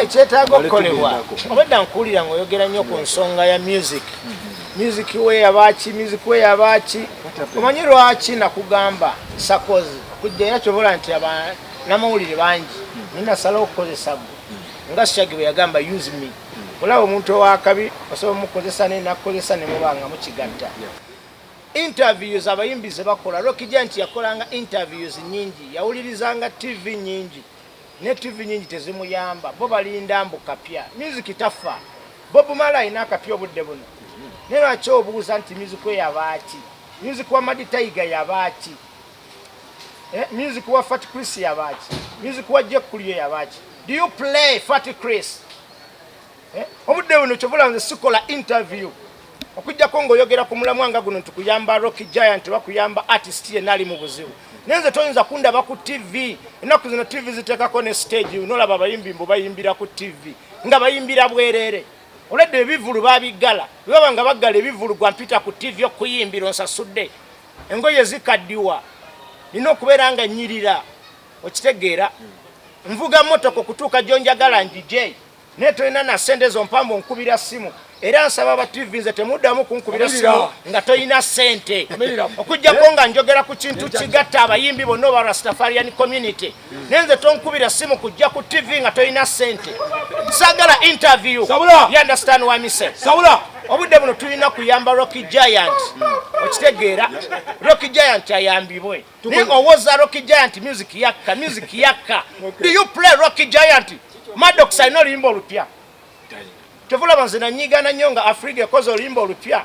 ekyetaaga okukolebwa obadda nkuwulira ngaoyogera nnyo ku nsonga ya music music we yabaaki music we yabaaki omanyi lwaki nakugamba sakozi okujjaera kyobola nti abanamawulire bangi naye nasalawo okukozesa gwe nga syagi bwe yagamba use me olaba omuntu owakabi osobola omukozesa naye nakukozesa nemubanga mukigatta Interviews abayimbi ze bakola, Rocky Giant yakolanga interviews nyingi, yawulirizanga TV nyingi ne TV nyingi tezimuyamba. Bo balinda mbu kapya. Music tafa. Bob Marley alina akapya obudde buno. Naye lwaki obuuza nti music we yabaaki? Music wa Madi Tiger yabaaki? Eh, music wa Fat Chris yabaaki? Music wa Jekulio yabaaki? Do you play Fat Chris? eh, obudde buno kyovula nze sikola interview okujjako ngaoyogera ku mulamwa nga guno nti kuyamba rock giant oba kuyamba artist yenna ali mu buzibu naye nze toyinza kundaba ku tv ennaku zino tv ziteekako ne stage nolaba abayimbi mbu bayimbira ku tv nga bayimbira bwereere oledde ebivulu babiggala bwebaba nga baggala ebivulu gwa mpita ku tv okuyimbira onsasudde engoye zikaddiwa nina okubeera nga nyirira okitegeera nvuga motoka okutuuka gyonjagala njije naye tolina na sente ezo mpambu nkubira simu era nsaba aba tv nze temuddamu kunkubira simu nga tolina sente okujjako nga njogera ku kintu kigatta abayimbi bonna oba rastafarian community naye nze tonkubira simu kujja ku tv nga tolina sente sagala interview you understand why me say sabula obudde buno tulina kuyamba rocky giant okitegeera rocky giant ayambibwe naye owoza rocky giant music yakka music yakka do you play rocky giant madox alina oluyimba olupya kyovulaba nze nanyigana nnyo nga afriga ekoze oluyimba olupya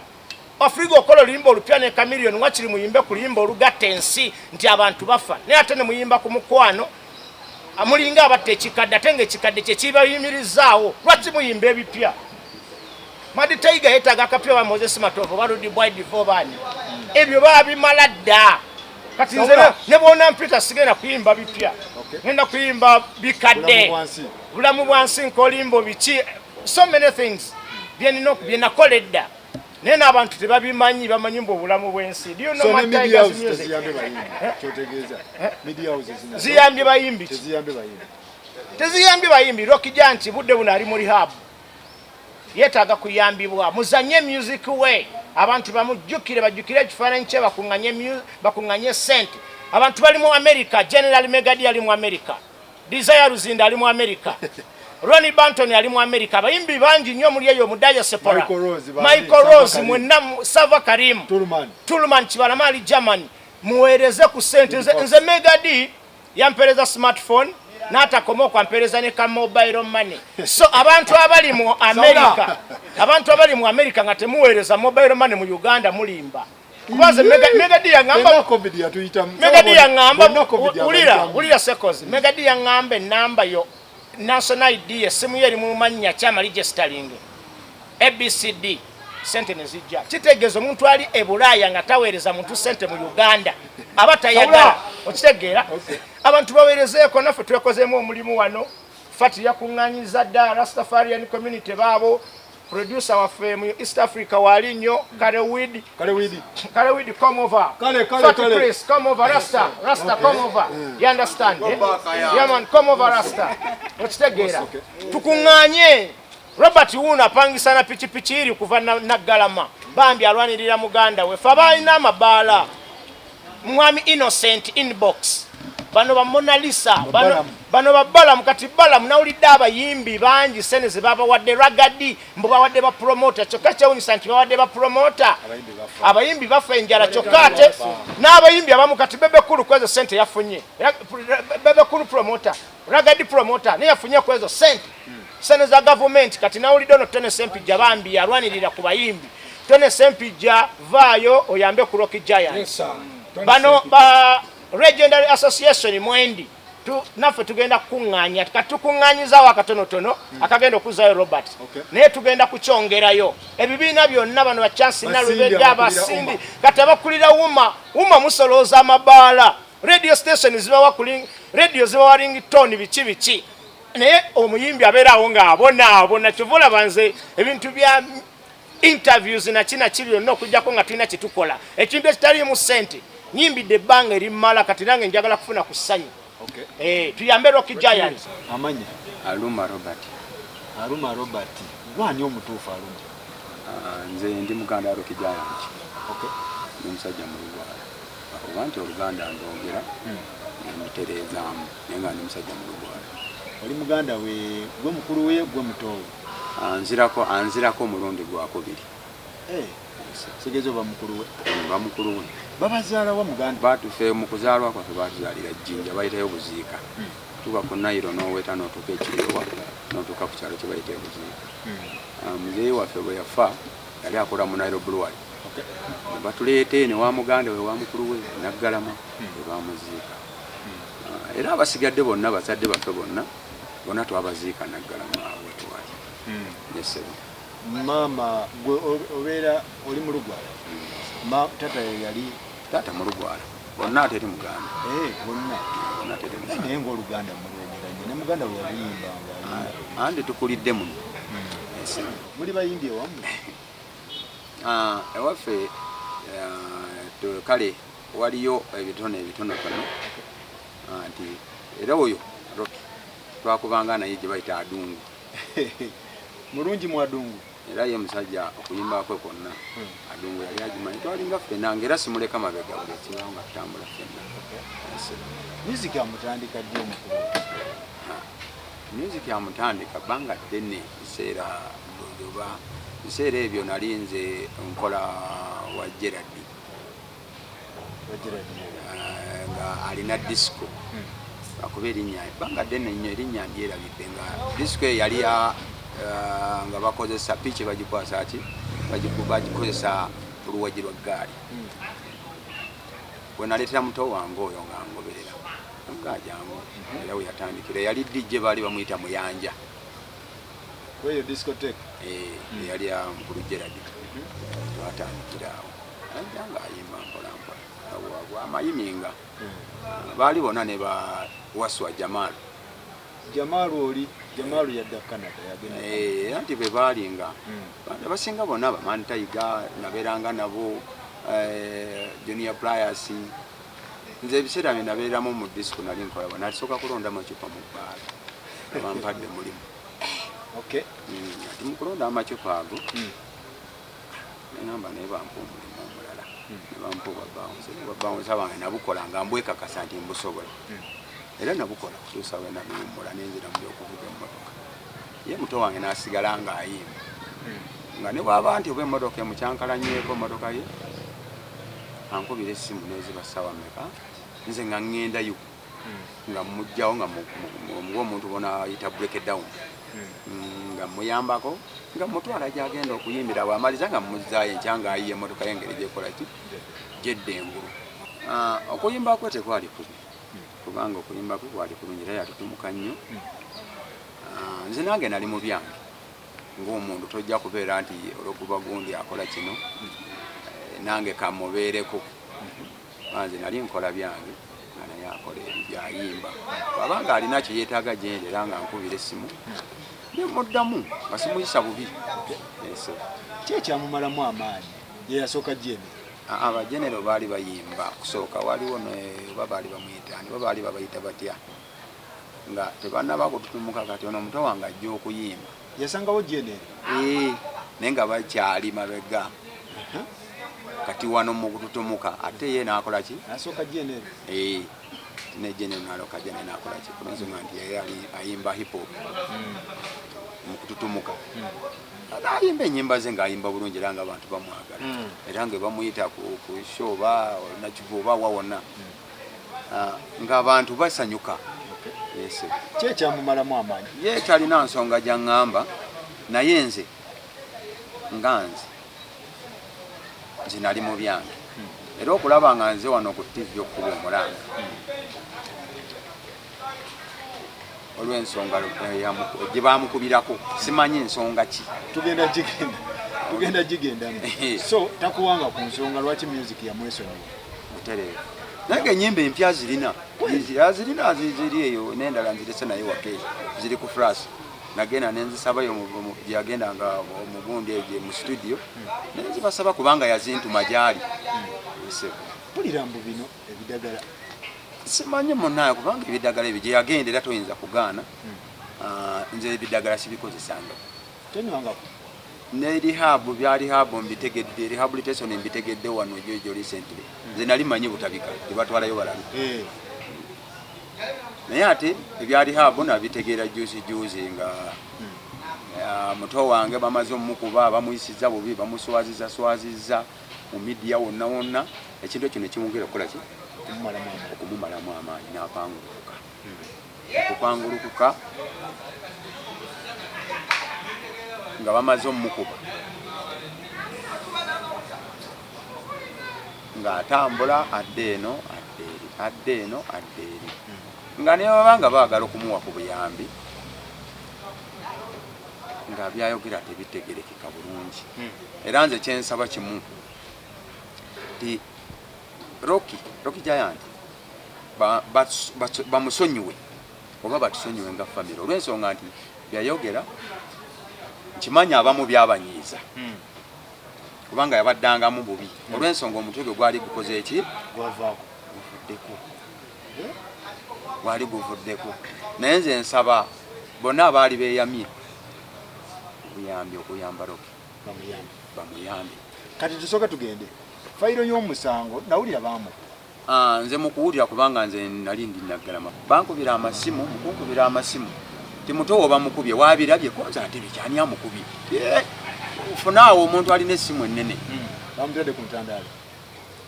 afriga okola oluyimba olupya ne kamilion wakiri muyimbe ku luyimba olugatta ensi nti abantu bafa naye ate nemuyimba ku mukwano amulinga abatta ekikadde ate nga ekikadde kyekibayimirizaawo lwaki muyimba ebipya madi taiga yetaaga akapya wa moses matovu baludi bwidivobani ebyo babimala dda kati nze ne bwona mpita sigenda kuyimba bipya ngenda kuyimba bikadde bulamu bwansi nkolimbo biki so many things byenina byenakola edda naye n'abantu tebabimanyi bamanyi mbu obulamu bw'ensi eh? ziyambye bayimbi teziyambye bayimbi rokija nti budde buno ali mu rihabu yeetaaga kuyambibwa muzanye music we abantu bamujjukire bajjukire ekifaananyi kye bakuŋŋanye sente abantu bali mu america general megadi ali mu america Desire Luzinda ali mu America. Ronnie Banton ali mu America. Abayimbi bangi nnyo muli eyo Mudaya Sepora. Michael Rose mwenna Sava Karim. Tuluman. Tuluman Kibalama ali Germany. Muweereze ku sente nze nze Mega D yampereza smartphone n'atakoma okwampereza ne ka mobile money. So abantu abali mu America abantu abali mu America nga temuweereza mobile money mu Uganda mulimba. kuba nze megadi yaŋambamegadi yaŋamba wulira wulira sekozi megadi yaŋamba enamba yo national id essimu yo eri mu mannya kyamali gyesitalinge abcd sente nezijja kitegeeza omuntu ali e bulaaya nga taweereza muntu sente mu uganda aba tayagala okitegeera abantu baweerezeeko naffe twekozeemu omulimu wano fati yakuŋŋanyiza dda rastafarian community baabo producer waffe mu East Africa wali nnyo kale widi kale widi kale widi come over kale kale Fatu kale Chris come over Rasta Rasta okay. come over mm. you understand eh? yeah man come over Rasta okitegeera okay. tukunganye Robert Wuuno apangisa na pikipiki iri kuva na, na Galama bambi alwanirira muganda we fa balina amabaala mwami innocent inbox bano ba monalisa bano ba balamu kati balamu nawulidde abayimbi bangi sene zebabawadde ragadi mbu bawadde ba promota kyokka kyewunyisa nti bawadde ba promota abayimbi bafa enjala kyokka ate n'abayimbi abamu kati bebekulu kwezo sente yafunye bebekulu promota Ragadi promoter naye yafunye ku ezo sente hmm. sente za gavumenti kati nawulidde ono tone sempijja bambi yalwanirira ku bayimbi tone sempijja vaayo oyambe ku rock giant bano ba legendary association mwendi naffe tugenda kukuŋŋaanya kati tukuŋŋaanyizaawo akatonotono hmm. akagenda okuzaayo robert naye tugenda kukyongerayo ebibiina byonna bano bachansi nalubedde abasindi kati abakulira wuma wuma musolooza amabaala radio station zibawa kuling radio zibawa ring tone biki biki naye omuyimbi abeeraawo ng'abonaabona kyova olaba nze ebintu bya interviews nakina ki byonna okujjako nga tulina kyetukola ekintu ekitaliimu ssente nyimbidde ebbanga erimmala kati nange njagala kufuna ku ssanyu eh, tuyambe rocky giant amanya aluma robert aluma robert gwani omutuufu aluma ah, nze ndi muganda rocky giant ndi omusajja mulugwala Oba nti oluganda ndwogera ne ndutereezaamu naye nga ndi musajja mulugwala. Oli muganda we, ggwe mukulu we, ggwe muto we. Anzirako, anzirako omulundi gwakubiri. Eh, kitegeeza oba mukulu we? Eh, mba mukulu we. Babazaala wa muganda? Batufe mu kuzaalwa kwaffe baatuzaalira Jinja, bayitayo Buziika. Hmm. Tuba ku Nairo n'oweta n'otuuka ekirewa n'otuuka ku kyalo kye bayita e Buziika. Hmm. Ah, muzeeyi waffe bwe yafa yali akola mu Nairo Brewery. batuleeta eno wa muganda we wa mukulu we naggalama ebamuziika ah, era abasigadde bonna bazadde baffe bonna bona twabaziika naggalama wetwali hmm. nesebo maama gwe obeera oli mu lugwala tata yeyali tata mu lugwala bonna ateri muganda eh, naye ngaoluganda mulwegeranye ne muganda we yaluyimbanga ah, andi tukulidde muno hmm. muli bayimbi ewamu Ah, ewaffe ah, kale waliyo ebitone ebitonotono ah, nti era oyo roki twakubanga naye gye bayita adungu mulungi mu adungu era ye musajja okuyimbakwe kwonna hmm. adungu yali agimanyi twalinga ffena nga era simuleka mabega buli ekibawo nga tutambula ffena music amutandika ddi omukulu music amutandika banga ddene ekiseera Njoba. Biseera ebyo nali nze nkola wa Gerard eh, nga alina disco hmm. akuba erinnya ebbanga ddene nnyo erinnya ndyerabidde nga disco eyo yali eh, nga bakozesa piiki bagikwasa ki bagikozesa oluwagi lwa ggaali hmm. wenaleetera muto wange oyo nga ngoberera nga ajangu hmm. era weyatandikira yali dijje baali bamuyita muyanja kweyo discotek eh, hmm. eyali awo mukulu gerard hmm. twatandikira awo aja nga ayimba mpolampola amayiminga hmm. baali bona ne ba waswa jamal jamal oli jamal yadda canada yagenda eh, anti bwe baali nga abasinga bona bamani tayiga naberanga nabo eh, junior pliers nze ebiseera bye nabeeramu mu disiko nali nkolawa nasooka kulondamu acupa mu bbaala abampadde mulimu ati hmm, mukulonda amacupa ago hmm. nengamba naye bampa omulimu omulala hmm. nebampa obwabawunsa bange nabukola nga mbwekakasa nti mbusobola era nabukola kutuusa we nabiwummula nenzira mu byokuvuga emmotoka ye muto wange nasigala nga ayimba nga ne bwaba nti oba emmotoka emukyankalanyeko emmotoka ye ankubira essimu neziba ssaawa mmeka nze nga ŋŋendayo hmm. nga mmugjawo nga ng'omuntu bona ayita break down hmm. mm, nga mmuyambako nga mmutwala gyagenda okuyimbira awo amaliza nga mmuzzaayo enkya nga ayiye emmotoka y'engeri gyekola ki gyedda engulu ah, okuyimba kwe tekwali kubi hmm. kubanga okuyimba kwe kwali kulungi era yatutumuka nnyo ah, nze nange nali mu byange Ng'omuntu tojja kubeera nti olwokuba gundi akola kino nange kamubeereko kuba nze nali nkola byange nga naye akola ebibyo ayimba bwaba nga alina kye yeetaaga gyendi era nga nkubira essimu nemuddamu nga simuyisa bubi eso ki ekyamumalamu amaanyi ye yasooka jene abajenero baali bayimba kusooka waliwo oba baali bamuyita ani oba baali babayita batya nga tebanaba kututumuka kati ono omuto wange ajja okuyimba yasangawo jene eh, naye nga bakyali mabega kati wano mukututumuka ate ye nakolaki asoka jene eh, ne jene naloka jene nakolaki kulensonga nti yeye ali ayimba hip hop hmm. mukututumuka hmm. ayimba enyimba ze nga ayimba bulungi era nga abantu bamwagala hmm. era nga bamuyita ku show ba nakivuba wawona nga abantu basanyuka yese kyekyamumalamu amaanyi ye talina nsonga gyaŋŋamba naye nze nga nze nze nali mu byange hmm. era okulaba nga nze wano ku tivi okukuba omulanga hmm. olw'ensonga eh, gye baamukubirako simanyi nsonga ki tugenda gigenda tugenda gigendamu eh. so takuwanga ku nsonga lwaki music yamwesonyiwa butereevu naye enyimba empya zirina zirina ziri eyo nendala nzirese naye wake ziri ku flash nagenda nenzisabayo gyeyagenda nga omugundi egyo mu studio hmm. nenzibasaba kubanga yazintuma gyali hmm. mpulira mbu bino ebidagala simanyi munaye kubanga ebidagala ebyo gyeyagenda era toyinza kugaana hmm. ah, nze ebidagala sibikozesanga tenywangako ne rehab bya rehab mbitegedde rehabilitation mbitegedde wano jojo recently hmm. nze nali manyi butabika tebatwalayo balalu eh. naye ate ebya rehab nabitegeera juzi juzi nga hmm. ah, muto wange bamaze omukuba bamuyisiza bubi bamuswaziza swaziza mu midiya wonna wonna, ekintu ekyo ne kimwongera okukola ki? Okumumalamu amaanyi n'apangulukuka. Okupangulukuka nga bamaze omukuba ng'atambula adda eno adda eri adda eno adda eri nga ne baba nga baagala okumuwa ku buyambi nga byayogera tebitegereke kabulungi era nze kyensaba kimu ti Rocky Rocky Giant bamusonyiwe ba, ba, oba batusonyiwe nga famire olw'ensonga nti byayogera nkimanyi abamu byabanyiiza hmm. kubanga yabaddangamu bubi hmm. olw'ensonga omutwe gwe gwali gukoze eki guvuddeko gwali guvuddeko naye nze nsaba bonna abaali beyamye obuyambi okuyamba roki bamuyambi bamuyambi kati tusoke tugende fayiro y'omusango nawulira baamu ah, nze mukuwulira kubanga nze nali ndi naggalama bankubira amasimu mukunkubira amasimu timutowo bamukubye wabirabye konza ate bikyani amukubye eh, funaawo omuntu alina essimu ennene hmm, bamutadde ku ntandaalo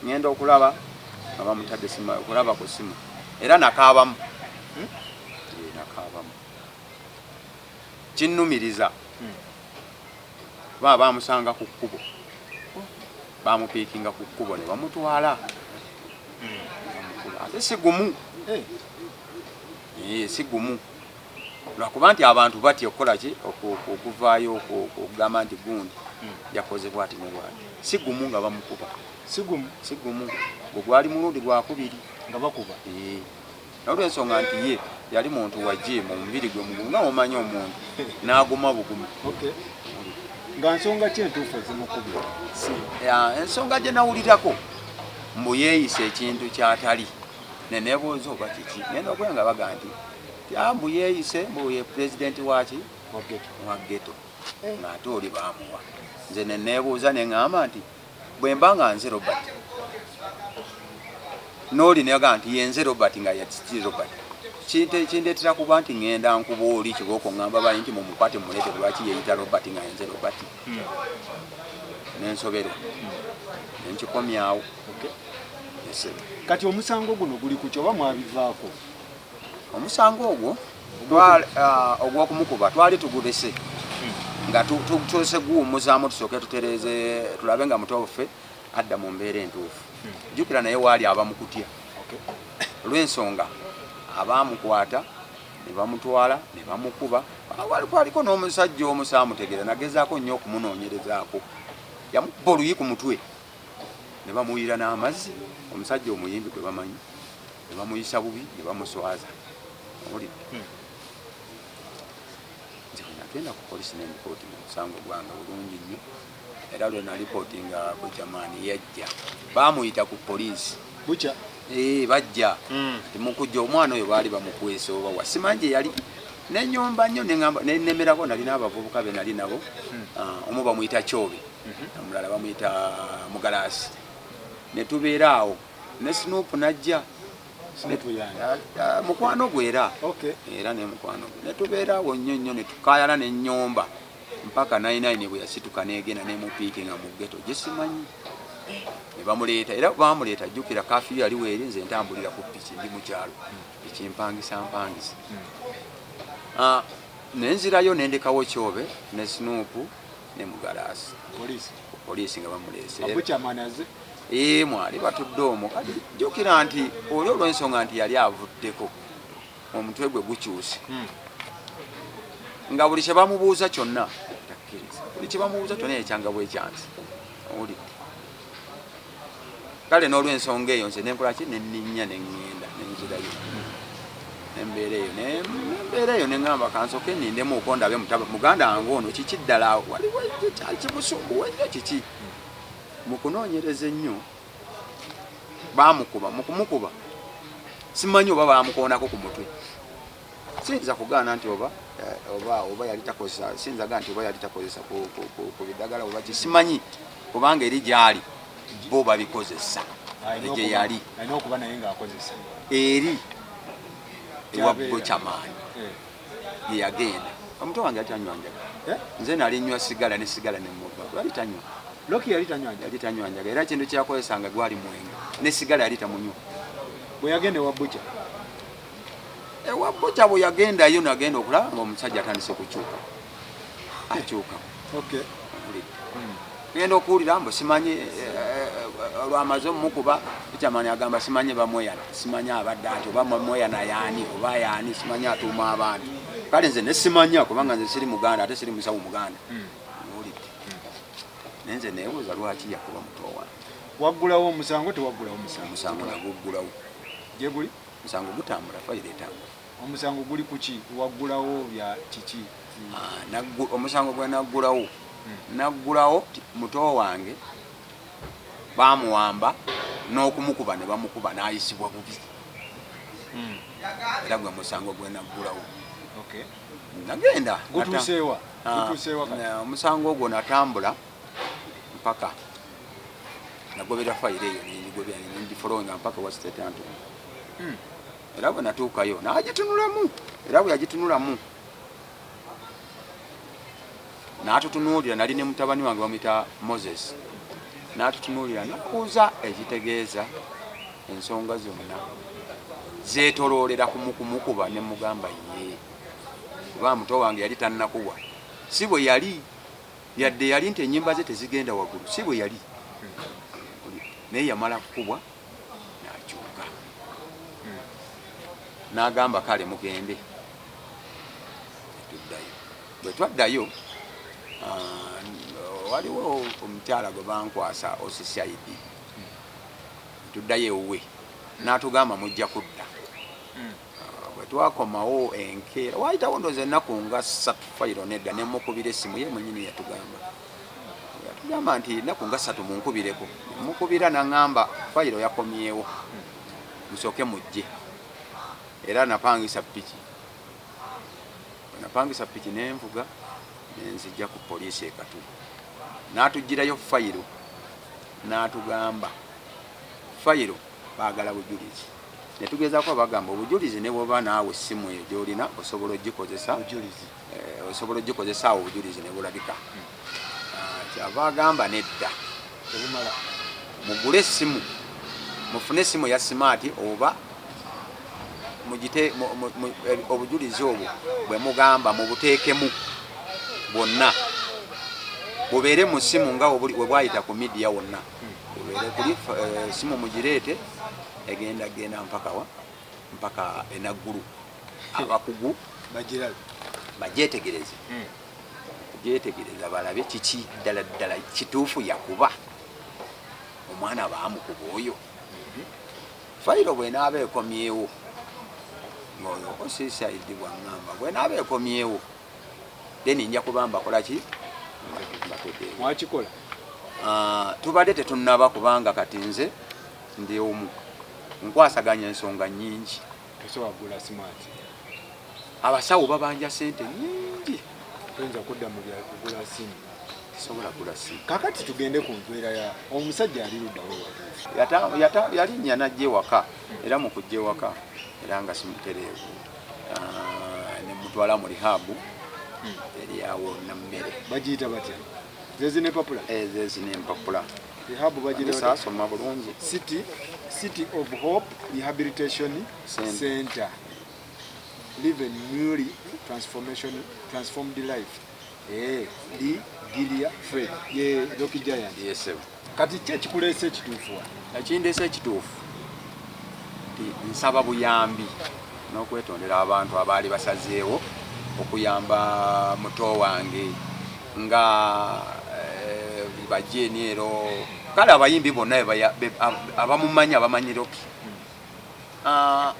ngenda okulaba nga bamutadde simu okulaba ku simu era nakaabamu hmm? eh, nakaabamu Kinnumiriza kubanga baamusanga ku kkubo, baamupiikinga ku kkubo ne bamutwala bamukuba. Ate si gumu, eh, si gumu lwakuba nti abantu batya okukola ki okuvaayo okugamba nti gundi yakoze bwati ne bwati. Si gumu nga bamukuba, si gumu, si gumu, gwe gwali mulundi gwakubiri nga bakuba. Eh. olw'ensonga nti ye yali muntu wa jiimu omubiri gwe mugumu nga omanyi omuntu n'aguma bugumi nga nsonga ki entuufu ezimukubye ensonga gye nawulirako mbu yeeyisa ekintu kyatali nenebuuza oba kiki nenokula nga baga nti mbu yeeyise mbu ye pulezidenti waki wa geto eh. ng'ate oli bamuwa nze nenebuuza neŋamba nti Bwe mba nga nze Robert, n'oli ne yagamba nti ye nze Robert nga yati Robert, kindeetera kuba nti ŋŋenda nkuba oli kibooko ŋŋamba bali nti mumukwate mumuleete lwaki yeeyita Robert nga yenze Robert hmm. nensoberwa hmm. nenkikomyawo kati omusango guno guli ku kyoba mwabivaako omusango ogwo ogwokumukuba twali tugubese nga tutuse guwumuzaamu tusooke tutereeze tulabe nga muto waffe adda mu mbeera entuufu hmm. jukira naye waali aba mukutya olw'ensonga abaamukwata ne bamutwala ne bamukuba wali kwaliko n'omusajja omu saamutegeera nagezaako nnyo okumunoonyerezaako yamubba oluyi ku mutwe ne bamuwulira n'amazzi omusajja omuyimbi gwe bamanyi ne bamuyisa bubi ne bamuswaza owulidde hmm. nze nagenda ku polisi nembikooti mu musango gwange bulungi nnyo era lwe nalipooti nga bujamaani yajja bamuyita ku polisi bukya ee eh, bajja hmm. ti mukujja omwana oyo baali bamukwesa oba wasimanje yali nenyomba nnyo nenemerako nali n'abavubuka be nali nabo hmm. ah, omu bamuyita kyobe mhm. omulala bamuyita mugalaasi netubeera awo ne snoop najja mukwano gwe era era ne mukwano gwe netubeera awo nnyo nnyo netukayala nenyomba mpaka nainaine bwe yasituka negenda nemupiiki nga mugeto gyesimanyi eh, nebamuleeta era bamuleeta jjukira kafiyo yali weeri nze ntambulira ku piki ndi mukyalo ekimpangisa mpangisa hmm. ah, nenzirayo nendekawo kyobe ne snoop ne mugalaasi poliisi nga bamuleese ee mwali batudde omwo kati jjukira nti oli olw'ensonga nti yali avuddeko omutwe gwe gukyuse hmm. nga buli kye bamubuuza kyonna takkiriza buli kye bamubuuza kyonna ekyanga bwekyansi owulidde kale n'olwensonga eyo nze nenkola ki nenninya neŋŋenda nenzirayo embeera eyo nembeera eyo neŋamba kansoke nindemu uko ndabe mutaba muganda wange ono kiki ddala waliwo kimusumbuwa ennyo kiki mukunoonyereza ennyo bamukuba mukumukuba simanyi oba bamukoonako ku mutwe siyinza kugaana nti oba eh, oba oba yali takozesa siyinza gaa nti oba yali takozesa ku bidagala oba kisimanyi kubanga eri gyali bo babikozesa egye yali eri ewa bokyamaani eh. yeyagenda omuto wange atanywanyjaga eh? nze nali nywa sigala ne sigala nemuva yali tanywa loki yali tanywanjaga era kintu kyeyakozesanga gwali mwenge ne sigala yali tamunywa bweyagenda ewa bukya ewa bboja bwe yagendayo nagenda okulaba nga omusajja atandise okukyuka akyuka genda okuwulira mbu simanyi eh, eh, eh, olwamaze omukuba jamani agamba simanyi bamweyana simanyi abadde ati oba mweyana yaani oba yaani simanyi atuuma abantu kale nze nesimanya kubanga nze siri muganda ate siri musawo muganda hmm. owulidde hmm. naye nze nebuuza lwaki yakuba muto wange waggulawo omusango tewaggulawo musango musango naguggulawo gyeguli Musango gutambula, fayiro etambula. Omusango guli kuki? Waggulawo bya kiki? Ah, omusango gwe naggulawo hmm. naggulawo muto wange bamuwamba n'okumukuba ne bamukuba n'ayisibwa bubi hmm. era gwe musango gwe naggulawo nagenda ah, omusango ogwo natambula mpaka nagobera fayiro eyo nengigobera nendifolowinga mpaka wa state antony hmm. era bwe natuukayo nagitunulamu era bwe yagitunulamu natutunuulira nali ne mutabani wange bamwita moses natutunuulira nakuuza ekitegeeza ensonga zonna zetoloolera kumukumukuba ne mugamba ye oba muto wange yali tannakubwa si bwe yali yadde yali nti enyimba ze tezigenda wagulu si bwe yali naye yamala kukubwa nakyuka nagamba kale mugende tuddayo bwe twaddayo ah, waliwo omukyala gwe bankwasa osisaidi tuddayo ewuwe natugamba mujja kudda hmm. Bwe twakomawo enkeera, waayitawo ndowooza ennaku nga ssatu, fayiro nedda, ne mmukubira essimu. Ye mwennyini yatugamba yatugamba nti ennaku nga ssatu munkubireko. Ne mmukubira n'aŋŋamba fayiro yakomyewo, musooke mujje. Era napangisa ppiki. Bwe napangisa ppiki ne nvuga ne nzijja ku poliisi e Katwe. N'atuggyirayo fayiro n'atugamba fayiro baagala bujulizi. ne tugezaako abagamba obujulizi ne bwoba naawe essimu eyo gy'olina osobola ogikozesa eh, osobola ogikozesa awo obujulizi ne bulabika hmm. ah, kyava agamba nedda mugule essimu mufune essimu ya simaati oba mugite eh, obujulizi obwo bwe mugamba mubuteekemu bwonna bubeere mu ssimu nga webwayita ku midiya wonna ebeere kuli eh, esimu mugireete egenda genda mpakawa mpaka enaggulu abakugu bagyetegereze hmm. gyetegereza balabe kiki ddala ddala kituufu yakuba omwana baamukuba oyo hmm. fayiro bwenaaba ekomyewo ngaoyo osisaidi bwaŋamba bwenaaba ekomyewo then nja kuba mbakola ki mwakikola ah, tubadde tetunaba kubanga kati nze ndi omu nkwasaganya ensonga nyingi tosowagula smart abasawo babanja sente nyingi toyinza kudda mu byakugula simu sobola gula simu kakati tugende ku mpeera ya omusajja ali luddawo yalinya najja ewaka era mu kujja ewaka era nga simutereevu ah, ne mutwala mu rihabu hmm. eri awo na mmere bagiyita batya zezi nempapula eh, zezi nempapula rihabu bagirasoma bulungi city city of hope rehabilitation center live a newly transformation transformed life eh, di gilia fred ye rocky giant yes, Kati ki ekikuleese ekituufu wa? Ekindeese ekituufu nti nsaba buyambi n'okwetondera abantu abaali basazeewo okuyamba muto wange nga eh, bajeeni ero kale abayimbi bonna abamumanyi abamanyi roki ah,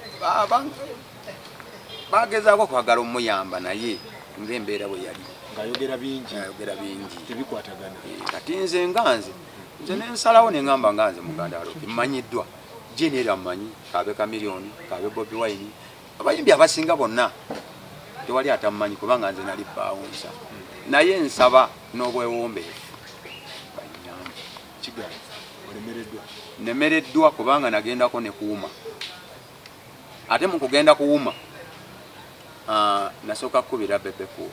bagezaako kwagala omuyamba naye nga embeera bwe yali ngayogera bingi ayogera bingi tebikwatagana eh, kati nze nga nze nze nensalawo nengamba nga nze muganda aloki mmanyiddwa jini era mmanyi kaabe kamiliyoni kaabe bobi wine abayimbi abasinga bonna tewali atammanyi kubanga nze nali baawunsa naye nsaba n'obwewombeefu nemereddwa kubanga nagendako nekuuma ate mu kugenda kuwuma ah, nasooka kukubira bebekulu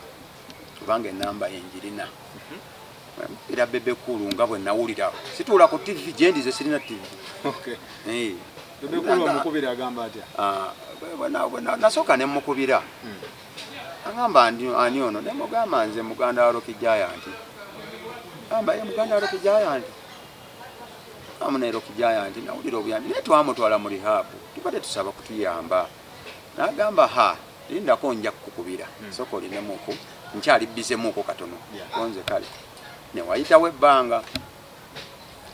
kubanga enamba ye njirina era bebekulu nga bwe nawulira situula ku tivi gyendize sirina tivi eh. ah, nasooka ne mukubira hmm. agamba ani ono ne mugamba nze muganda wa roki jayanti amba ye muganda wa roki jayanti amunaero kujaya nti nawulira obuyambi naye twamutwala mu rihabu tubadde tusaba kutuyamba nagamba ha lindako nja kukukubira hmm. soka olinemuku nkyali bizemuku katono konze kale newayitawo ebbanga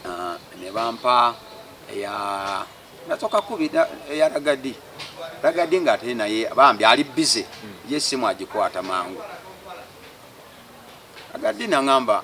ah, nebampa eya nasoka kubi eya ragadi ragadi nga ate naye bambi ali bize hmm. ye simu agikwata mangu ragadi nangamba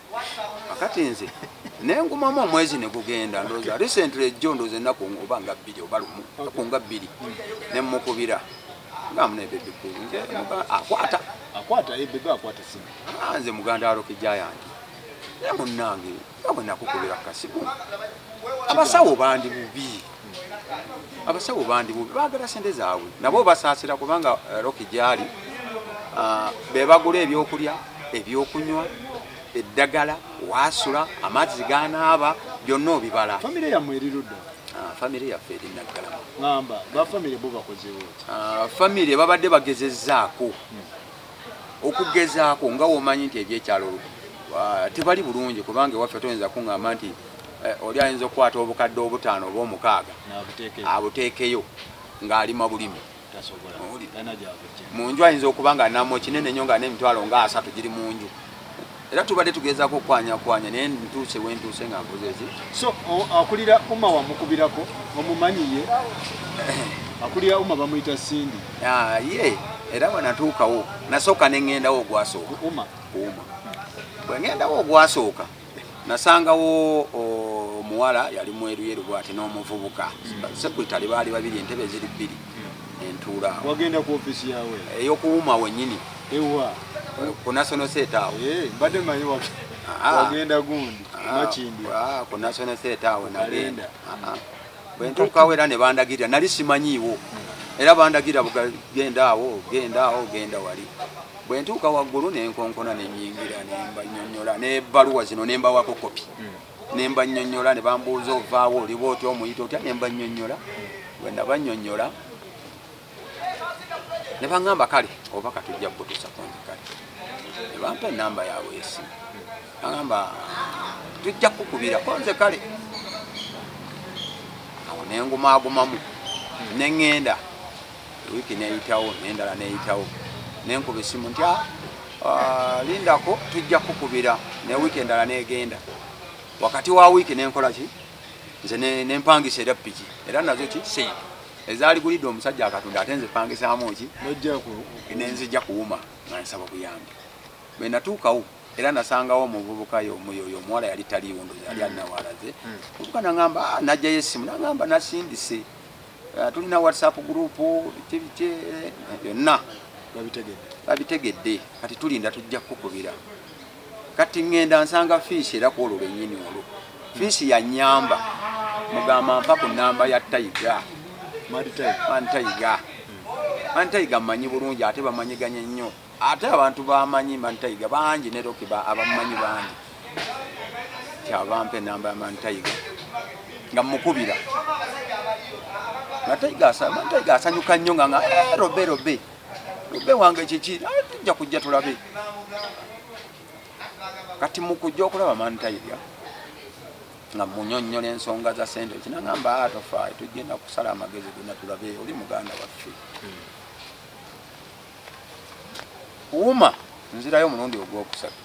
kakati nze nengumamu omwezi negugenda ndoza recently ejjo ndoza enaku oba nga bbiri oba lumu enaku nga bbiri nemukubira akwata ah, nze muganda aloke jayanti naye munange nga bwenakukubira kasimu abasawo bandi bubi abasawo bandi bubi bagala sente zaabwe nabo basaasira kubanga eh, roki gyali ah, bebagula ebyokulya ebyokunywa eddagala waasula amazzi ganaaba byonna obibala famire yamwe erirudda ah, famire yaffe eri naggalama amba bafamire bo bakozewo ah, famire babadde bagezezaako hmm. okugezaako nga womanyi nti ebyekyalo ah, tebali bulungi kubanga ewaffe toyinza kuŋamba nti eh, oli ayinza okukwata obukadde obutaano oba omukaaga abuteekeyo ng'alima bulimi mu nju ayinza okuba nga namo kinene nyo nga n'emitwalo nga asatu giri mu nju era tubadde tugezaako okwanyakwanya naye ntuuse wentuuse nga nkozezi so akulira uma wamukubirako omumanyiye akulira uma bamuyita sindi ah, ye era bwenatuukawo nasooka neŋŋendawo ogwasooka uma bwe ŋŋendawo ogwasooka nasangawo omuwala yali mweruyeru bwati n'omuvubuka mm. sekuyitale baali babiri entebe ziri bbiri entuula wagenda ku office yawe eyokuwuma wenyini ewa ku national set awo eh mbadde manyi ah. wagenda gundi ah. makindi ah, ku national set awo nagenda bwentuukawo era ne bandagirira nali simanyiiwo hmm. era bandagirira bugagenda awo genda awo genda wali bwentuuka waggulu nenkonkona nenyingira nembanyonyola nebaluwa zino nembawako kopi hmm. ne mbannyonnyola ne bambuuza ovaawo oliba otya omuyita otya ne mbannyonnyola bwe nabannyonnyola ne baŋŋamba kale oba katujja kukutuusa ku nze kale ne bampa ennamba yaabwe esimu baŋamba tujja kukubirako nze kale awo ne ngumaagumamu ne ŋŋenda Wiiki n'eyitawo n'endala n'eyitawo ne nkuba essimu nti ah, ah, lindako tujja kukubira ne wiiki endala n'egenda wakati wa wiiki ne nkola ki nze ne mpangisa era piki era nazo ki seyi ezaaligulidde omusajja akatunda ate nze pangisaamu ki nenzija kuwuma nga nsaba buyambi bwe natuukawo era nasangawo omuvubuka yomuyoyo omuwala yali taliiwo ndozi yali alinawaalaze hmm. omuvubuka nangamba ah, najjayo essimu nangamba nasindise Eh, tulina whatsapp group kibiki byonna eh, babitegedde kati tulinda tujja kukubira kati ngenda nsanga fiisi era kwolwo lwenyini olwo fiisi yanyamba mugamba mpa ku namba ya taiga antaiga antaiga manyi bulungi ate bamanyiganye nnyo Ate abantu bamanyi Mantayiga bangi ne Rocky ba abamanyi bangi. Kyava mpe namba ya Mantayiga nga mukubira. Mantayiga asa Mantayiga asanyuka nnyo nga nga eh robe robe. Robe wange kiki? Ah, tujja kujja tulabe. Kati mukujja okulaba Mantayiga nga munyonyola ensonga za sente kinangamba ah, tofa tujenda kusala amagezi gona tulabe oli muganda waffe. Hmm. wuma nzirayo omulundi ogwokusatu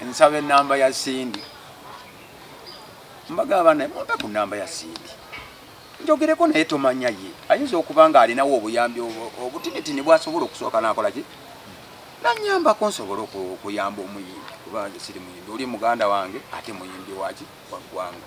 nsaba enamba ya sindi mbagamba naye mumpe ku namba ya sindi njogereko naye tomanya ye ayinza okuba nga alinawo obuyambi obutinitini bwasobola okusooka nakolaki nanyambako nsobole okuyamba omuyimbi kuba nze siri muyimbi oli muganda wange ate muyimbi waki waggwanga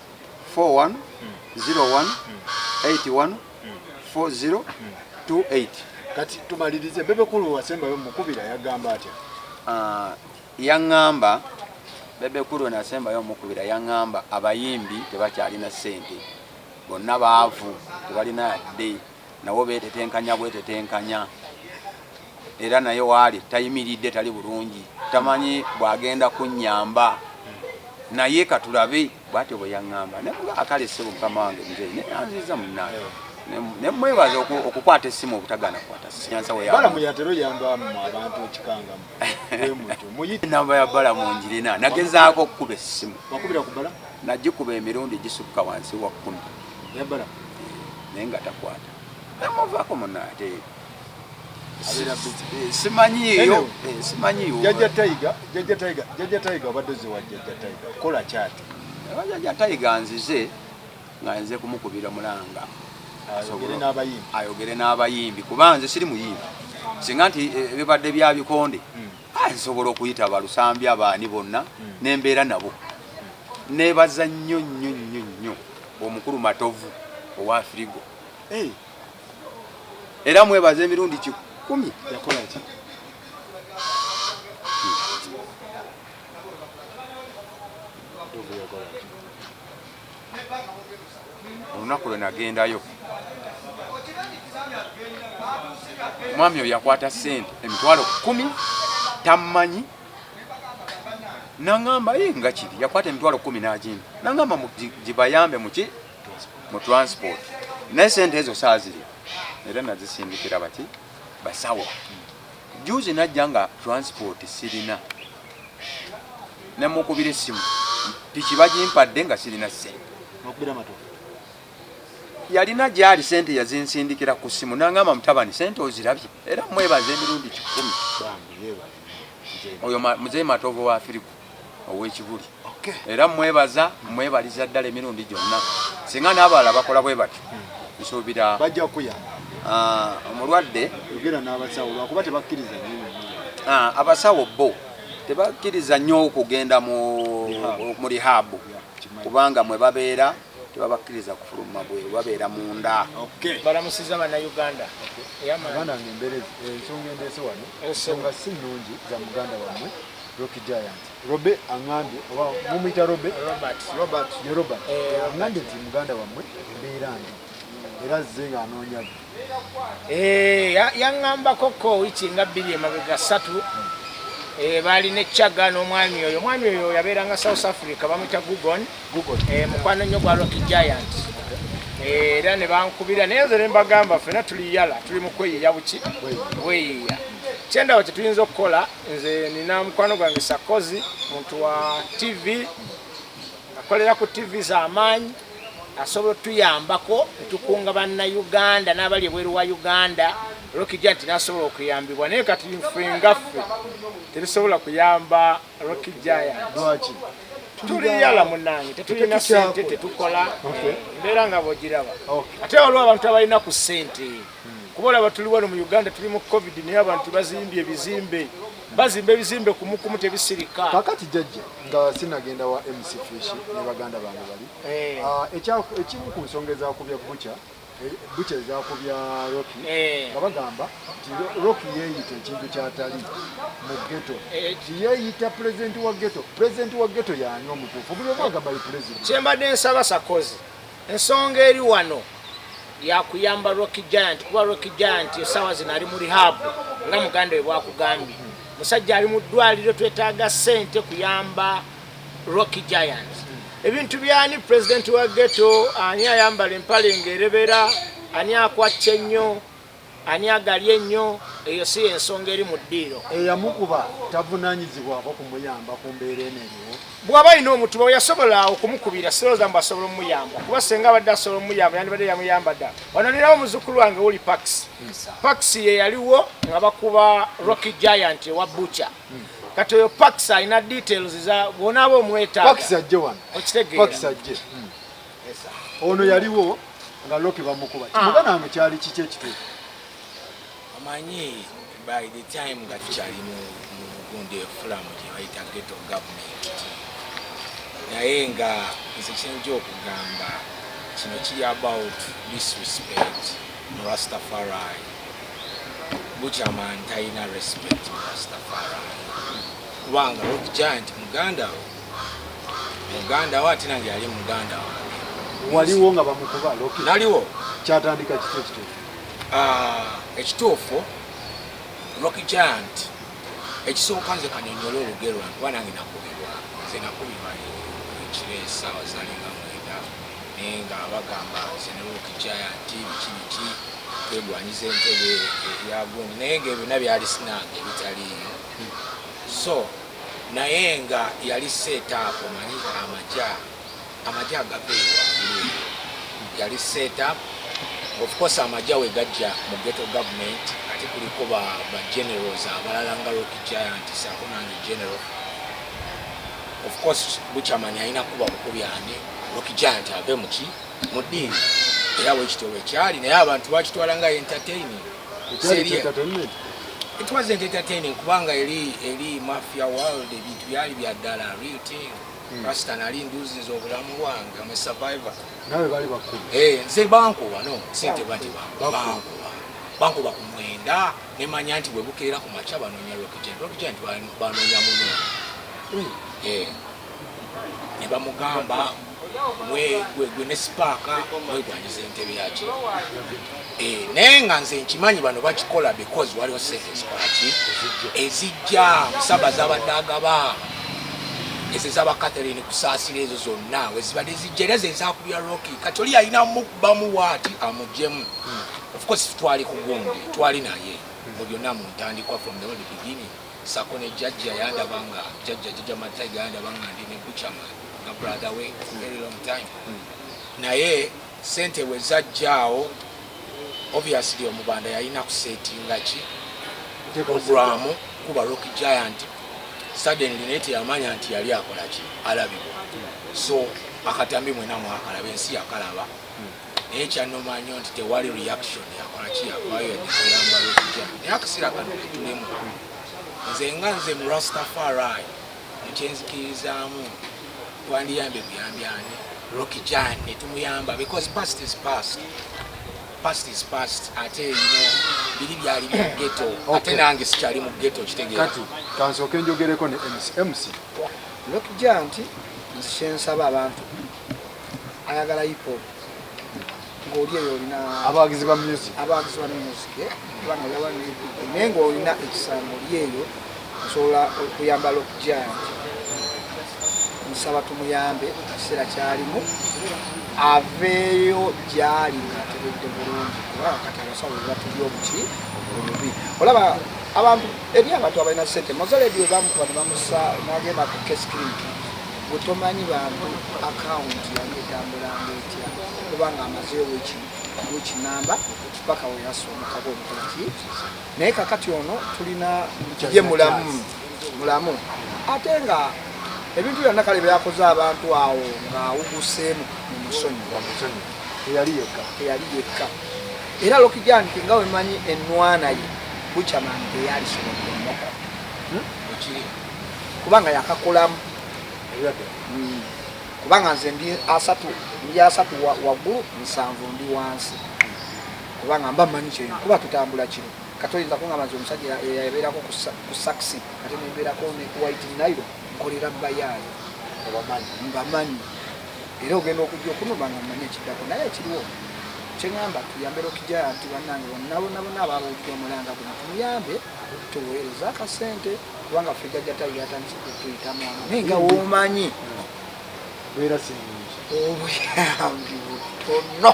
4101814028 kati tumalirize bebe kulu wasembayo mukubira yagamba atya ah, yangamba bebe kulu nasembayo omukubira yangamba abayimbi tebakyalina sente bonna baavu tebalina yadde nawo betetenkanya bwetetenkanya era naye waali tayimiridde tali bulungi tamanyi bwagenda kunyamba naye katulabe bwatyo bweyaŋamba akale sebo mukama wange mzei naye anziza munaye nemwebaza okukwata esimu obutagana kwata namba ya bala mungirina nagezaako okukuba esimu nagikuba emirundi gisukka wansi wa kumi yabala naye nga takwata namuvako muna ate simanyiyo simanyiyo jaja taiga jaja taiga jaja taiga obadde ozewa jaja taiga kola kyati jaja taiga nzize nga nze kumukubira mulanga ayogere n'abayimbi kuba nze siri muyimbi singa nti eh, bibadde bya bikonde hmm. Ah, nsobola okuyita balusambi abaani bonna hmm. nembeera nabo nebaza nnyo nnyo nnyo nnyo omukulu matovu owa firigo eh. era mwebaza emirundi kikumi yakolaki olunaku lwe nagendayo omwami oyo yakwata sente emitwalo kumi tammanyi nangamba ye nga kiri yakwata emitwalo kumi nagimba nangamba gibayambe muki mu transport naye sente ezo saaziri era nazisindikira baki basawo juzi najja nga transport sirina nemukubira essimu piki bagimpadde nga sirina sente yalina gyali sente yazinsindikira ku ssimu nangamba mutabani sente ozirabye era mwebaza emirundi kikumi oyo muzee matovu wa firigo ow'ekibuli era mwebaza mwebaliza ddala emirundi gyonna singa n'abalala bakola bwe bati nsuubira bajja kuya ah, omulwadde yogera n'abasawo lwakuba tebakkiriza ah, abasawo bo tebakkiriza nnyo okugenda mu rihaabu kubanga mwe babeera tebabakkiriza kufuluma bweru babeera munda balamusizza bannayuganda abanange embeerezi eh, ensonga endeese wano ensonga si nnungi za muganda wammwe roki giant robe aŋambye oba mumuyita robe ye robert eh, aŋambye nti muganda wammwe embeera ndi era zze nga anoonya Eh, yaŋambako ko wiki nga bbiri emabega ssatu eh, baali ne chaga n'omwami oyo omwami oyo yabeeranga south africa bamwita gugon eh, mukwano nnyo gwa rock giant era ne bankubira naye nze ne mbagamba fena tuli yala tuli mu kweyiya buki bweyiya kyendawo kyetuyinza okukola nze nina mukwano gwange sakozi muntu wa tv akolera ku tv z'amaanyi asobola otuyambako netukunga bannayuganda n'abali ebweru wa uganda rokija nti nasobola okuyambibwa naye kati nfe ngaffe tetusobola kuyamba rokijayanti tuliyala munange tetulina sente tetukola mbeera nga bwogiraba ate waliwo abantu abalina ku sente kuba olaba tuli wano mu uganda tuli mu covid naye abantu bazimbye ebizimbe bazimba ebizimbe kumukumu tebisirika kakati jajja nga sinagenda wa mc fish ne baganda bange bali eh. ah, ekimu ku nsonga ezakubya bucha eh, bucha ezakubya rocky eh. nga bagamba nti rocky yeeyita ekintu kyatali mu geto nti yeeyita pulezidenti wa geto pulezidenti wa geto yaani omutuufu buli omu agamba ye pulezidenti kyembadde nsaba sakozi Ensonga eri wano yakuyamba Rocky Giant kuba Rocky Giant esaawa zino ali mu rehab nga muganda we bwakugambye. Musajja ali mu ddwaliro, twetaaga ssente kuyamba Rocky Giant. Ebintu byani pulezidenti wa ghetto? Ani ayambala empale ng'erebera? Ani akwacca ennyo? Ani agalya ennyo? Eyo si y'ensonga eri mu ddiiro. Eyamukuba tavunaanyizibwako kumuyamba ku mbeera eno eriwo? Bw'aba alina omutuba we yasobola okumukubira sirowooza mbu asobola omuyamba kuba singa abadde asobola omuyamba yandibadde yamuyamba dda. Wano ndinawo muzukkulu wange Wuli Pax. Pax ye yaliwo nga bakuba Rocky Giant ewa Butcher. Hmm. Kati oyo Pax alina details za bw'onaaba omwetaaga. Pax ajje wano. Okitegeera. Pax ajje. Hmm. ono yaliwo nga loki bamukuba ah. kimuga nange kyali kiki ekituufu amanyi by the time nga tukyali mu gundi efulamu gyebayita geto government naye nga nze kyenja okugamba kino kiri about disrespect mu rastafari bukyamani talina respect mu rastafari kubanga rock giant muganda we muganda wo ate nange yali muganda wange waliwo nga bamukuba naliwo kyatandika kiki ekituufu ah, ekituufu roki giant ekisooka nze kanyonyole olugero lwankuba nange nakubirwa nze nakubirwa ekiro esaawa zali nga mwenda naye nga bagamba nze ne roki giant biki biki twegwanyiza entebe eyagundi naye nga ebyona byali sinange ebitaliiyo so Naye nga yali setup omanyi amaja amaja agava eyo waggulu eyo yali setup of course amaja wegajja mu ghetto government ate kuliko ba ba generals abalala nga rock giant saako nange general of course buchamani alina kuba bukubi ani rock giant ave muki mu ddiini era wekityo wekyali naye abantu bakitwala nga entertaining It wasn't entertaining kubanga eri eri mafia world ebintu byali bya ddala real thing. Hmm. Rasta nali nduzi z'obulamu bwange I'm a survivor. Nawe bali bakulu. Eh, nze banko wano sente bati banko. Banko banko bakumwenda ne manya nti bwe bukeera ku macha banonya rocket. Rocket banonya muno. Hmm. Eh. ne bamugamba gwe ne sipaaka mwegwanyiza entebe yaki eh, naye nga nze nkimanyi bano bakikola because waliwo sente ezikolaki ezijja musaba zabadde agaba ezo ezaba catherine kusaasira ezo zonna wezibadde zijja era zezakubya roki kati oli yalina mukubamu waati amugjemu hmm. ofcourse twali kugundi twali naye mu byonna mu ntandikwa from the old beginning sako ne jajja yandaba nga jajja jajja mataiga yandaba nga ndi ne buchama nga brother we for very long time mm. naye sente we zajjaawo obviously omubanda yalina kusetinga ki programu kuba rock giant suddenly naye teyamanya nti yali akola ki alabibwa so akatambi mwena mwakalabe ensi yakalaba mm. naye kyanoma nyo nti tewali reaction yakolaki yavayo yadikuyambala okutya naye akasera kano ketulemu nze nga nze mu rastafarai mukyenzikirizamu twandiyambye buyambi ani roki jan netumuyamba because past is past past is past ate ino biri byali mu geto ate nange sikyali mu geto kitegeera kati kansooke njogereko ne mc mc roki jan nti nzishensaba abantu ayagala hip hop ng'oli eyo olina abawagizi ba music abawagizi ba music eh? kubanga olaba naye ng'olina ekisambo oli eyo osobola okuyambala okujanti nsaba tumuyambe ekiseera kyalimu aveeyo gyali ng'ategedde bulungi kuba kati abasawo bebatuli obuki obubi olaba abantu eri abantu abalina sente mozaledi webamukuba nebamusa nagenda ku kesclinic gwe tomanyi bantu akawunti yali etambulanga etya kubanga amazeewo ekinamba paka weyasa omukaba omukoki naye kakati ono tulina ye mulamu mulamu ate nga ebintu byonna kale byakoze abantu awo ng'awuguseemu mu musonyi eyali yekka era lokijanti nga wemanyi enwana ye buchaman teyalisobola kubanga yakakolamu hmm. kubanga nze ndi asatu ndi asatu waggulu nsanvu ndi wansi kubanga mba manyi kyeyo kuba tutambula kino kati oyinza kungamba nti omusajja yabeerako ku saxi ate nembeerako ne white nairo nkolera bayaayo mbamanyi era ogenda okujja okunuma nga manyi ekiddako naye ekiriwo kyeŋamba tuyambere okijaya nti bannange bonnabonabona ababuulira omulanga guno tumuyambe tuweereza akasente kubanga ffe jajja tayi yatandise kutuyitamu awo naye nga womanyi beera sirungi obuyambi butono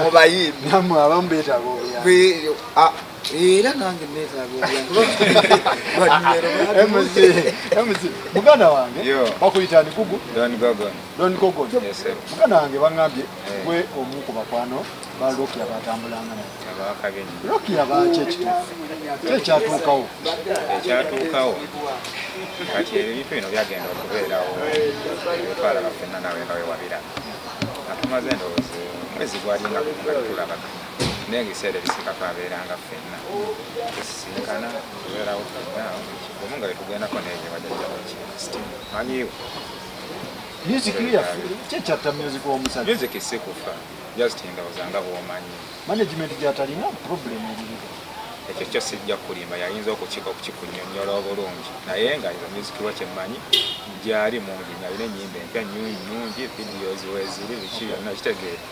mubayimbi namwe abamu beetaaga obuyambi era nange neetaaga obuyambi muganda wange bakuyita ndikugu don gogon muganda wange baŋambye eh. gwe omu ku bakwano ba Lokia batambulanga naye Lokia baaki ekituufu kyo ekyatuukawo ekyatuukawo kati ebintu bino byagenda okubeerawo otwala bafenna nawe nga wewabira atumaze endowoozi mwezi gwalinga tulaba naye ebiseera ebisika twabeeranga fenna tusisinkana tubeerawo fenna omu nga wetugendako nebyo bajajjabo kisti manyiwo music yaffe kyekyatta music womusajja music sikufa just ndowooza nga bwomanyi management gyatalina problem eririwo ekyo kyo sijja kulimba yayinza okukikunyonyola obulungi naye nga izo music lwa kyemmanyi gyali mungi nalina enyimba empya nyungi videos weziri biki byonna kitegeera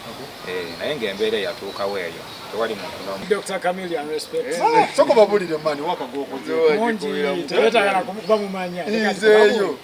eh, naye nga embeera eyatuukawo eyo tewali muntu nomusokobabulire eh, mani wakagokozemungi tebetagala kumumanya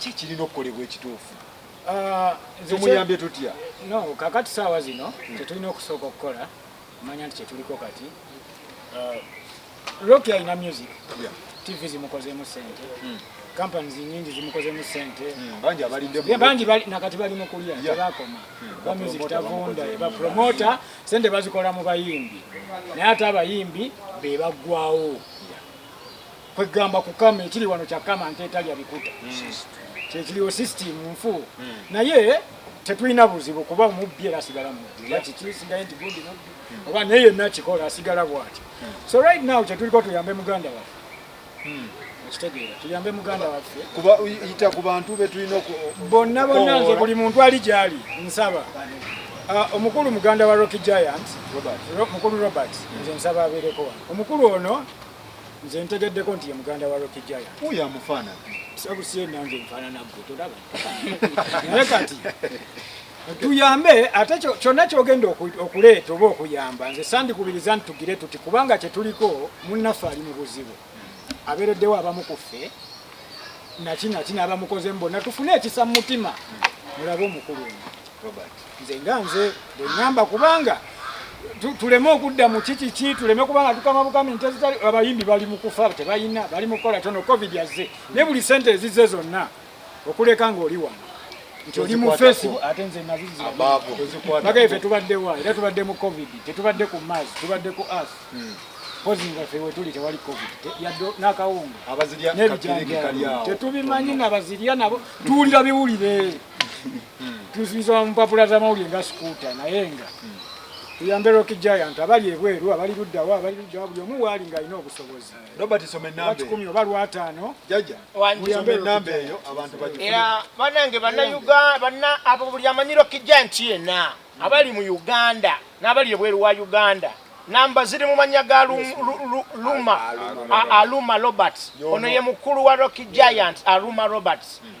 ki kirina okukolebwa ekituufu ah, tumuyambye tutya no kakati saawa zino hmm. kyetulina okusooka okukola manya nti kyetuliko kati ah, roki alina music tv zimukozeemu sente hmm. companies nyingi zimukozemu sente hmm, bangi abalinde mu bangi bali nakati bali mukulya tebakoma hmm, ba music tavunda ba promoter sente bazikola mu bayimbi naye ate abayimbi be bagwawo kwegamba kukama ekiri wano kyakama nte etalya bikuta hmm. kyekiriwo system nfu hmm. naye tetulina buzibu kuba omubbi era asigala mubbi yakikisigaye nti gundi mubbi hmm. oba naye yenna kikola asigala bwati so right now kyetuliko tuyambe muganda waffe okitegeera tuyambe muganda waffe kuba yita ku bantu betulina bonna bonna nze buli muntu ali gyali nsaba ah, omukulu muganda wa rocky giant mukulu robert nze nsaba abeereko wano omukulu ono Nze ntegeddeko nti ye muganda wa Rocky Giant. Oyo amufaanana. Sabu si nange nfaanana ggwe tolaba. Naye kati tuyambe ate kyonna kyogenda okuleeta oba okuyamba nze sandikubiriza nti tugire tuti kubanga kyetuliko munnaffe ali mu buzibu abeereddewo abamu ku ffe nakinaki n'abamukozemu bonna tufune ekisa mu mutima mulabe omukulu ono nze nga nze bwenyamba kubanga tuleme okudda mu kikiki tuleme kubanga tukama bukami nte zitali abayimbi bali mu kufa tebalina bali mu kukola tono covid azze ne buli sente ezizze zonna okuleka ng'oli wano nti oli mu fesi ate nze nazizibaga ife tubadde wa era tubadde mu covid tetubadde ku mars tubadde ku as hmm. pozi nga fe wetuli tewali covid yadde n'akawunga nebijanjaa tetubimanyi nabazirya nabo tuwulira biwulire tuzinsoma mu mpapula z'amawulire nga sikuuta naye nga tuyambe rock giant abali ebweru abali luddawa abali luddawa buli omu waali ng'alina obusobozi robert soma enamba kikumi oba lwataano jaja muyambe enamba eyo abantu era banange bannayuganda banna abo buli amanyi rock giant yena abali mu uganda n'abali ebweru wa uganda namba ziri mu mannya ga luma aluma roberts ono ye mukulu wa rock giant aluma roberts hmm.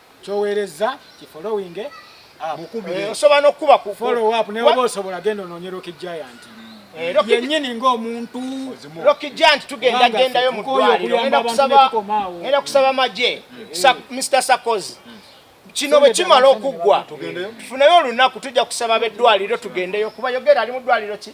kyowerezza ki following eh, osobola nokukuba ku follow up ne oba osobola genda ononyera ki giant eh, yenyini ng'omuntu roki giant tugenda gendayo mu ddwaliro ngenda kusaba magye mr sakozi kino bwe kimala okuggwa tufuneyo olunaku tujja kusaba beddwaliro tugendeyo kuba yogera ali mu ddwaliro ki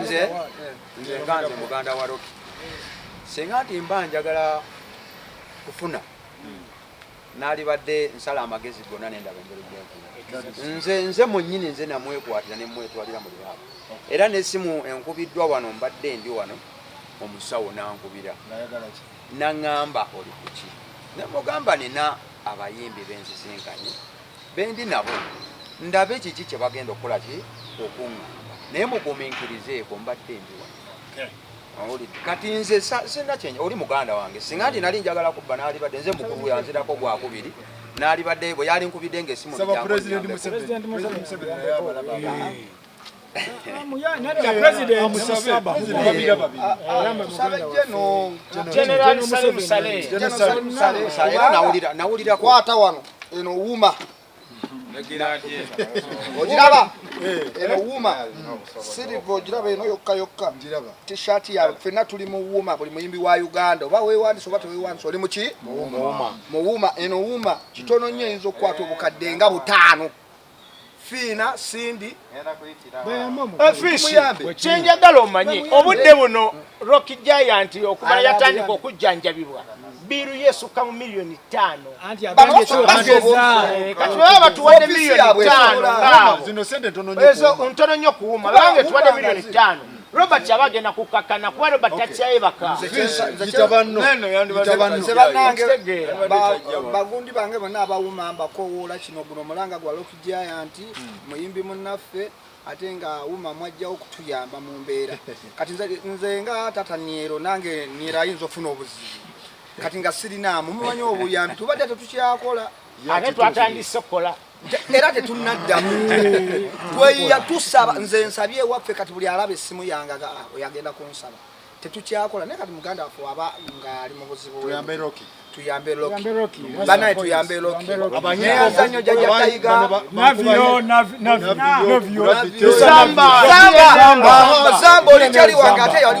nze nga nze muganda wa roki singa nti mba njagala kufuna nalibadde nsala amagezi gonna nendaba engeri gyenkuna nze nze mwenyini nze namwekwatira nemwetwalira mu libaaba era nesimu enkubiddwa wano mbadde ndi wano omusawo nankubira naŋamba oli kuki nemugamba nina abayimbi bensisinkanye bendi nabo ndabe kiki kyebagenda okukola ki okungamba naye muguminkirizeeko mbadde ndi wano owulidde kati nze sirina kyenyi oli muganda wange singa nti nali njagala kubba naalibadde nze mukulu yanzirako gwakubiri naalibadde bwe yali nkubidde ngaesimu nawulira kwata wano eno wuma ogiraba eno wuma siriva ogiraba eno yokka yokka tshirt yawe fenna tuli mu wuma buli muyimbi wa uganda oba wewandisa oba tewewandisa oli muki mu wuma eno wuma kitono nnyo eyinza okukwata obukadde nga butaano Fiina, Cindy, eh, Fish, kyenjagala omanye obudde buno Rock Giant okumala yatandika okujjanjabibwa biiru yesukka mu miliyoni ttaano kati baba batuwadde miliyoni ttaano ezo ntono nnyo kuwuma baba nge tuwadde miliyoni ttaano Robert aba agenda kukkakkana kuba Robert takyaye baka bagundi bange bonna abawuma mbakowoola kino guno omulanga gwa Loki Giant hmm. muyimbi munnaffe ate nga wuma mwajjawo okutuyamba mu mbeera kati nze nga tata niero nange niero ayinza ofuna obuzibu kati nga sirinaamu mumanyi obuyambi tubadde tetukyakola ate twatandise okukola era tetunnaddamu tweyiya tusaba nze nsabye ewaffe kati buli alaba essimu yange oyagenda kunsaba tetukyakola naye kati muganda waffe waba ngaali mu buzibu tuyambe loki banaye tuyambe loki neyazanyo jaja tayiga zamba olikyali wange ate yali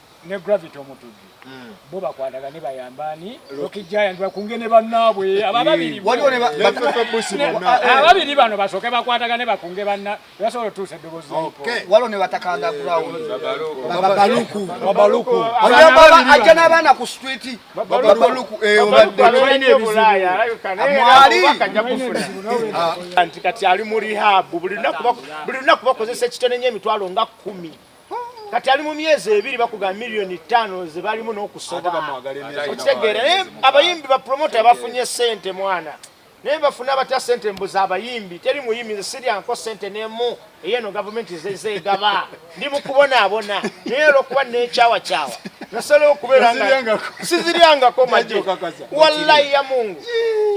ne Gravity Omutujju hmm. bo bakwatagane bayamba ani Rocky Giant bakunge ne bannaabwe ababiri ababiri bano basooke bakwatagane bakunge banna basobola otuusa eddobozi waliwo ne batakanda hmm. ground babaluku babaluku ajja n'abaana ku street babaluku eh, mwali ah. nti kati ali mu rehab buli lunaku bakozesa ekitone nyo emitwalo nga kumi kati ali mu myezi ebiri bakugamba miliyoni ttaano ze balimu n'okusoba okitegeera naye abayimbi bapromota bafunye sente mwana naye bafuna batya sente mbuza abayimbi teri muyimbi nze siryanko sente nemu eyeno gavumenti zezegaba ndi mukubonaabona naye olwokuba nekyawakyawa nasobola okubeera nga siziryangako maje wallayi ya mungu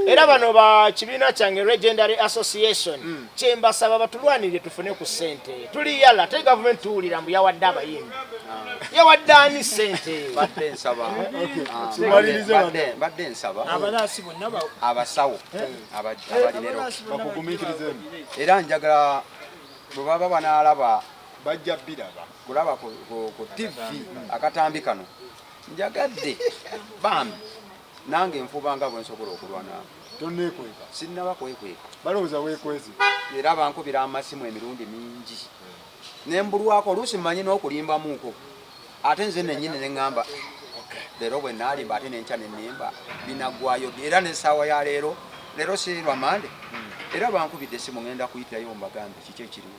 era bano ba kibiina kyange legendary association mm. kyembasaba batulwanirire tufune ku sente tuli yala te gavumenti tuwulira mbu yawadde abayimbi ah. yawadde ani sente badde nsaba badde ah, nsaba abalaasi bonna abasawo eh. abalirero bakugumikirizemu era njagala bwe baba banaalaba bajja biraba kulaba ku tivi akatambi kano njagadde bambi Nange nfuba nga bwe nsobola okulwana. Tonneekweka? Sinnaba kwekweka. Balowooza weekwese? Era bankubira amasimu emirundi mingi ne mbulwako, oluusi mmanyi n'okulimbamuuko ate nze nennyini ne ŋŋamba leero bwe naalimba ate n'enkya ne nnimba binaggwaayo ddi? Era n'essaawa ya leero, leero si lwa Mmande? Era bankubidde essimu ŋŋenda kuyitayo mbagambe kiki ekiriwo.